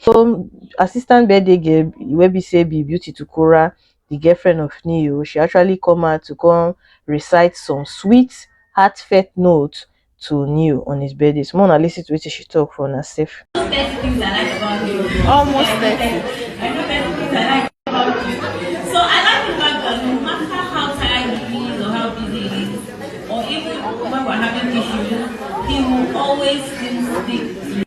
So assistant birthday girl wey be say be beauty to Kora, the girlfriend of Neo, she actually come out to come recite some sweet, heartfelt notes to Neo on his birthday. So Mona listen to what she talk for herself. Almost 30.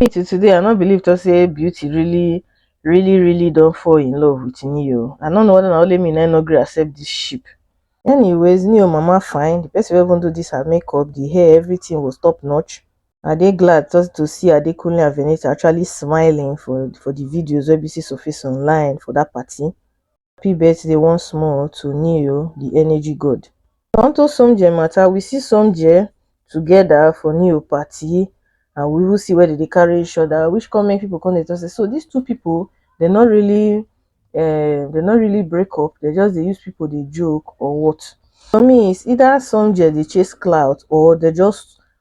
me to today i no believe to say beauty really really really don't fall in love with neo i don't know whether na only me na no gree accept this ship anyways neo mama fine the person wey even do this her makeup the hair everything was top notch I dey glad to to see Adekunle and Venita actually smiling for for the videos wey be say surface online for that party. Happy birthday once more to Neo, the energy god. Onto Somjie matter, we see Somjie together for Neo party and we even see where they dey carry each other which come make people come dey talk say so these two people they no really um they no really break up, they just dey use people dey joke or what. For me it's either Somjie dey chase clout or they just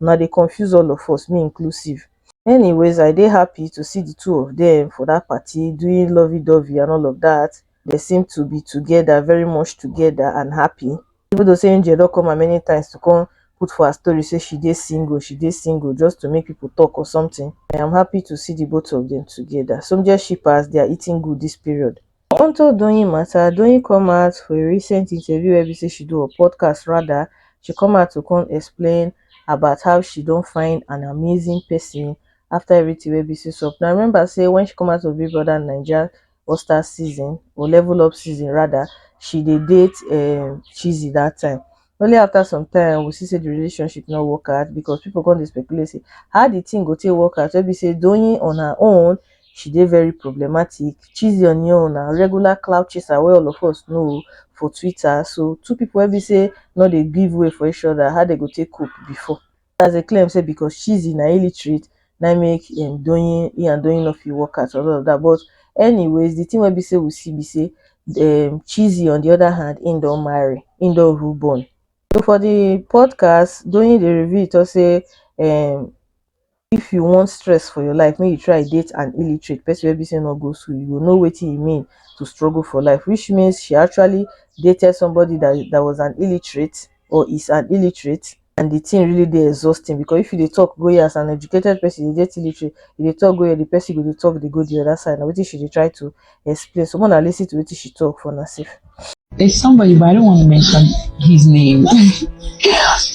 una dey confuse all of us me inclusive anyways I dey happy to see the two of them for that party doing lovey dovey and all of that they seem to be together very much together and happy even though say Angel don come her many times to come put for her story say she dey single she dey single just to make people talk or something I am happy to see the both of them together some just shippers they are eating good this period Unto Doyin matter, Doyin come out for a recent interview wey be say she do or podcast rather, she come out to come explain about how she don find an amazing person after everything wey be say sup. Now remember say when she come out for Big Brother Naija All Stars season or Level Up season rather, she dey date um Cheesy that time Only after some time we see say the relationship no work out because people come dey speculate say how the thing go take work out wey be say Doyin on her own she dey very problematic, Chizzy on im own na regular clout chaser wey all of us know for Twitter so two people wey be say no dey give way for each other how dem go take cope before. others dey claim say because Chizzy na illiterate na im make um Doyin he and Doyin no fit work out and all of that but anyways the thing wey be say we see be say um Chizzy on the other hand he don marry he don even born so for the podcast Doyin dey reveal talk say um if you want stress for your life make you try date an illiterate person wey be say no go school you go know wetin e mean to struggle for life which means she actually dated somebody that that was an illiterate or is an illiterate and the thing really dey exhausting because if you dey talk go here as an educated person you dey get illiterate you dey talk go here the person go dey talk dey go the other side na wetin she dey try to explain so more na lis ten to wetin she talk for una sef. There's somebody, but I don't want to mention his name.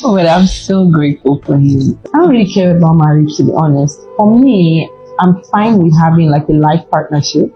Oh, but I'm so grateful for him. I don't really care about marriage, to be honest. For me, I'm fine with having like a life partnership.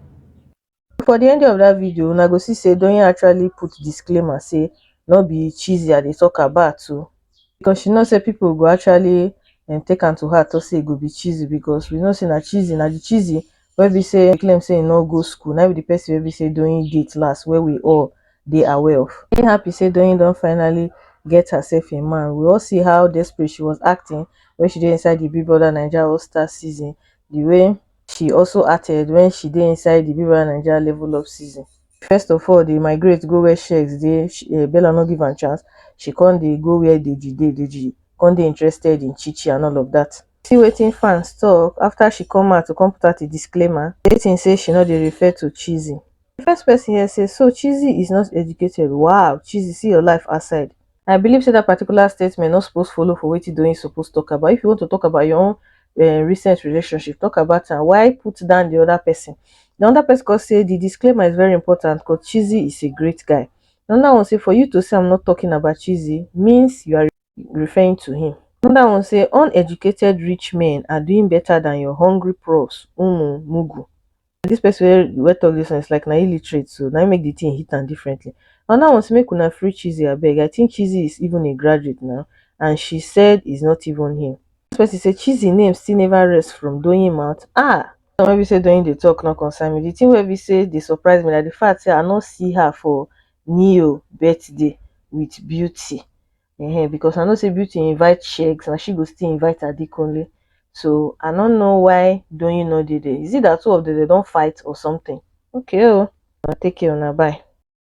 for the ending of dat video una go see say Doyin actually put disclaimer say no be Chizzy I dey talk about o because she know say people go actually um take am to heart talk say e go be Chizzy because we know say na Chizzy na the Chizzy wey be say claim say e no go school na be the person wey be say Doyin date last wey we all dey aware of. Dey happy say Doyin don finally get herself a man we all see how desperate she was acting when she dey inside the Big Brother Naija All Stars season the way she also acted wen she dey inside di viva naija level up season. First of all dey migrate go where sheggz dey, um Bella no give am chance, she come dey go where Deji dey, Deji come dey interested in Chi Chi and all of dat. See wetin fans talk after she come out to come put out a disclaimer stating say she no dey refer to Chizzy. Di first person here say so Chizzy is not educated, wow Chizzy see your life outside. I believe say that particular statement no suppose follow for wetin Doyin suppose talk about. If you want to talk about your own uh, recent relationship, talk about am. Why put down the other person? The other person could say the disclaimer is very important because Chizzy is a great guy. Another one say for you to say I'm not talking about Chizzy means you are referring to him. Another one say uneducated rich men are doing better than your hungry pros, umu, mugu. Dis person wey wey talk dis one is like na illiterate so na im make the thing hit am differently. Another one say make una free Chizzy abeg I think Chizzy is even a graduate now and she said is not even him. Dis person say Chizzy name still never rest from Doyin mouth ah! Dis one wey be say Doyin dey talk no concern me, the thing wey be say dey surprise me na the fact say I no see her for Neo birthday with Beauty um because I know say Beauty invite Shegs and she go still invite Adekunle. So I no know why Doyin no dey there. Is it that two of them they don fight or something? Okay oh, una take care una bye.